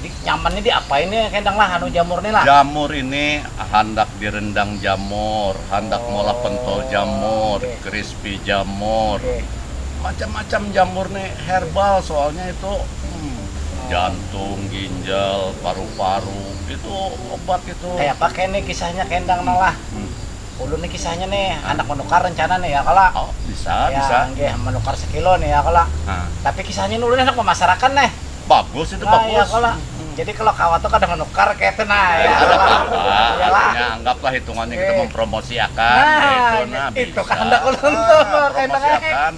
Jadi nyaman ini diapain nih kendang lah anu jamur nih lah. Jamur ini handak direndang jamur, handak oh, molah pentol jamur, okay. crispy jamur. Okay. Macam-macam jamur nih herbal soalnya itu hmm, jantung, ginjal, paru-paru itu obat itu. Kayak apa kayak nih kisahnya kendang hmm. lah. Hmm. ulun nih kisahnya nih handak menukar rencana nih ya kala oh bisa ya, bisa nggih menukar sekilo nih ya kala nah. tapi kisahnya ulun handak memasarakan nih bagus itu nah, bagus ya kala hmm. jadi kalau kawan tuh kadang menukar kayak itu nah ya kala ya lah anggaplah hitungannya kita eh. mempromosiakan nah, itu nah itu kehendak ulun tuh ah, promosiakan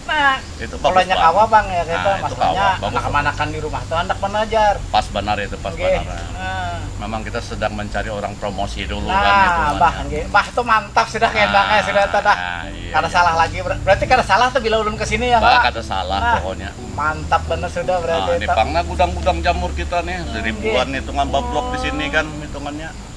Nah, itu bagus banget. kawa bang ya kita nah, maksudnya anak-anakan di rumah tuh hendak menajar. Pas benar itu pas okay. benar. Nah. Memang kita sedang mencari orang promosi dulu nah, kan itu kan. Bah, ya. bah tuh mantap sudah nah, endangnya sudah tuh dah. Nah, iya, kada iya. salah lagi berarti kada salah tuh bila ulun kesini ya. Bah, kada salah nah, pokoknya. Mantap benar sudah berarti. Nah, ini pangna gudang-gudang jamur kita nih, hmm, ribuan okay. hitungan bablok di sini kan hitungannya.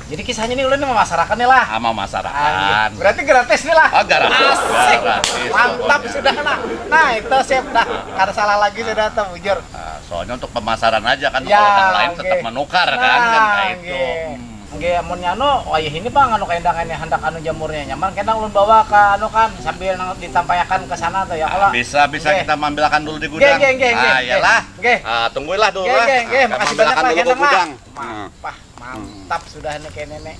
Jadi kisahnya nih ulun memasarakan nih lah. Ah, memasarakan. Ah, gitu. Berarti gratis nih lah. Oh, gratis. Asik. Gratis. Mantap sudah lah. Nah, itu sip dah. Kada salah lagi sudah tuh, bujur. Ah, soalnya untuk pemasaran aja kan ya, kalau yang lain tetap menukar kan, nah, kan kayak itu. Hmm. Nggih, amun anu wayah ini Bang anu kaindah ini handak anu jamurnya nyaman kena ulun bawa ke anu kan sambil nang ditampayakan ke sana tuh ya kalau ah, bisa bisa kita mambilakan dulu di gudang. Nggih, nggih, nggih. Ah, iyalah. Nggih. Ah, tungguilah dulu lah. Nggih, nggih, ah, makasih banyak lah ke gudang. Mah. mantap sudah nih kayak nenek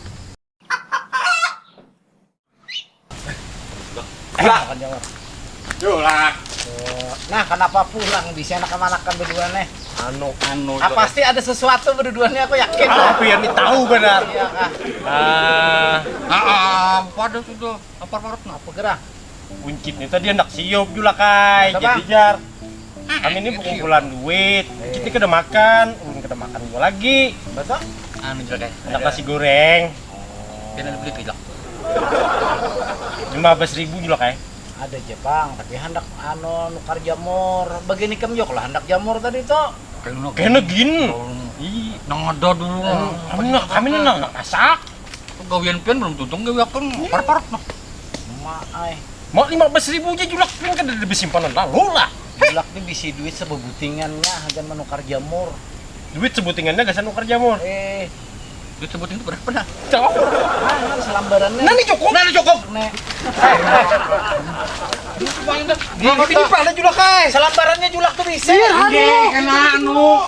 nah kenapa pulang di sana kemana kan berdua nih anu anu ah, pasti ada sesuatu berdua nih aku yakin ah, aku yang tahu benar iya kah ah ah apa ada sudah apa parut apa gerah Uncit ni tadi handak siup jua lah kai, Masa, jadi Bang? jar. Kami ni pengumpulan duit, Uncit ni kada makan, ulun kada makan jua lagi. Masa? Anu jua kai. Handak nasi goreng. Pian ada beli pilak. Lima bas ribu jua lah kai. Ada ja pang, tapi handak anu nukar jamur. Bagian ikam jua kalo handak jamur tadi tu. Kena gin. Ih, Nang ada dulu. anu nah kami ni nang handak masak. Pagawian pian belum tuntung gawi akun parat-parat noh. Mak ai. Mak lima belas ribu aja julak pian kada ada besimpanan lalu lah. Julak ni bisi duit sebebutingannya hagan menukar jamur. Duit sebutingannya gasan nukar jamur. Eh. Duit sebuting tu berapa nah? Tahu. Nah, selambaran ni. Nah ni cukup. Nah ni cukup. Nek. Di di pala julak ai. Selambarannya julak tu bisa. Iya, kan anu.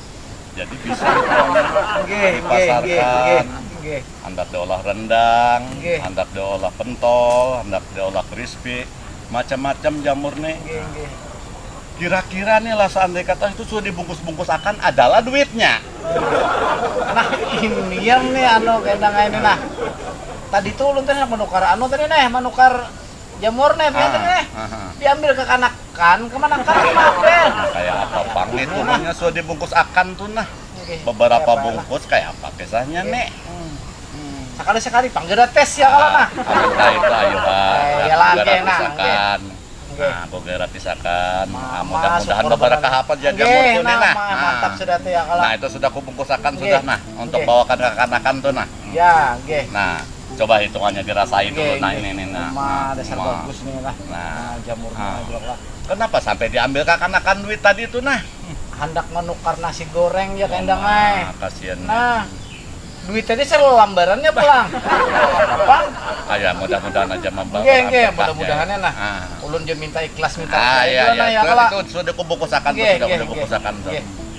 jadi bisa dipasarkan handak diolah rendang handak diolah pentol handak diolah krispi macam macam jamur nih kira kira nih lah seandai kata itu sudah dibungkus bungkus akan adalah duitnya nah ini yang nih anu kena ini nah tadi tuh ulun tadi menukar anu tadi nih menukar Jamur nih, biasa ah, nih. Ah, ah. Diambil kekanakan, kemanakan sama apel. Nah, kayak apa pang nih tuh nah. sudah dibungkus akan tuh nah. Okay. Beberapa Siapa bungkus lah. kayak apa kisahnya okay. nih. Hmm. Hmm. Sekali-sekali pang gratis ya kalau nah. Nah itu ayo lah. Eh, ya lagi nah. Okay. Nah, gue gratisakan. Nah, mudah-mudahan beberapa kahapan jadi okay, jamur tuh nah, nih nah. Mantap sudah tuh ya kalau. Nah, itu sudah kubungkusakan okay. sudah nah untuk okay. bawakan kekanakan tuh nah. Ya, nggih. Nah, coba hitungannya dirasai dulu nah ini nih nah. Nah, dasar nah. bagus nih lah. Nah, nah jamurnya nah. juga lah. Kenapa sampai diambil kakanakan duit tadi itu nah? Hendak menukar nasi goreng ya oh, kendang ay. Kasihan. Nah, duit tadi selambarannya pulang. Apa? Ayah, mudah-mudahan aja membawa. Nggih, nggih, mudah-mudahannya nah. Ah. Ulun je minta ikhlas minta. Ah, iya, iya. Nah, ya, itu, itu sudah kubukusakan, sudah kubukusakan. Nggih, nggih.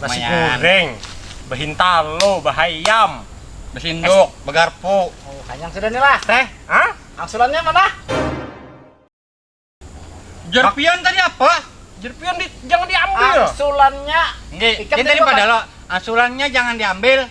Nasi goreng, behintalo, behayam, besinduk, begarpu. Oh, kanyang sudah nih lah. Teh, ah? Angsulannya mana? Jer pian tadi apa? Jer pian di, jangan diambil. Angsulannya. Nggih, ikan tadi pada lo. Angsulannya jangan diambil.